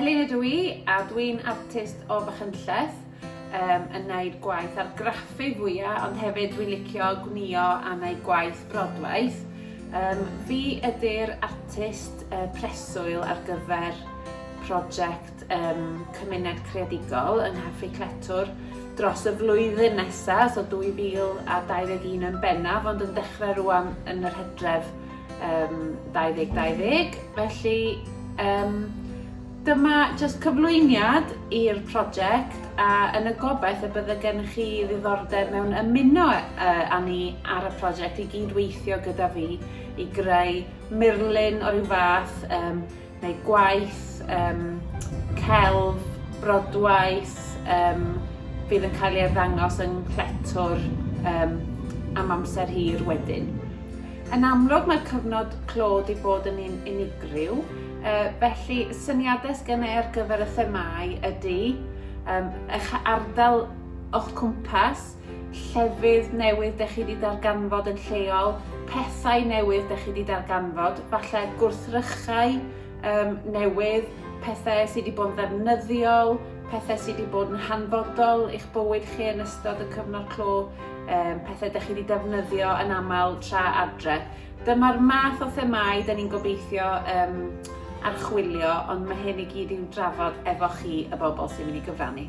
Elin ydw i, a dwi'n artist o Fachynlleth, um, yn gwneud gwaith ar graffu fwyaf, ond hefyd dwi'n licio gwnio a gwneud gwaith brodwaith. Um, fi ydy'r artist uh, preswyl ar gyfer prosiect um, cymuned creadigol yng Nghaffi Cletwr dros y flwyddyn nesaf, so 2021 yn bennaf, ond yn dechrau rwan yn yr hydref um, 2020. Felly, um, dyma jyst cyflwyniad i'r prosiect a yn y gobaith y bydde gennych chi ddiddordeb mewn ymuno uh, â ni ar y prosiect i gyd weithio gyda fi i greu murlun o ryw fath um, neu gwaith um, celf, brodwaith, um, fydd yn cael ei arddangos yng Nghletwr um, am amser hir wedyn. Yn amlwg mae'r cyfnod clo wedi bod yn un unigryw, uh, felly syniadau gen i ar gyfer y themau ydy um, eich ardal o'ch cwmpas, llefydd newydd dych chi wedi darganfod yn lleol, pethau newydd dych chi wedi darganfod, falle gwrthrychau um, newydd, pethau sydd wedi bod yn ddefnyddiol, pethau sydd wedi bod yn hanfodol i'ch bywyd chi yn ystod y cyfnod clo, um, pethau dych chi wedi defnyddio yn aml tra adre. Dyma'r math o themau dyn ni'n gobeithio um, archwilio, ond mae hyn i gyd i'w drafod efo chi y bobl sy'n mynd i gyfrannu.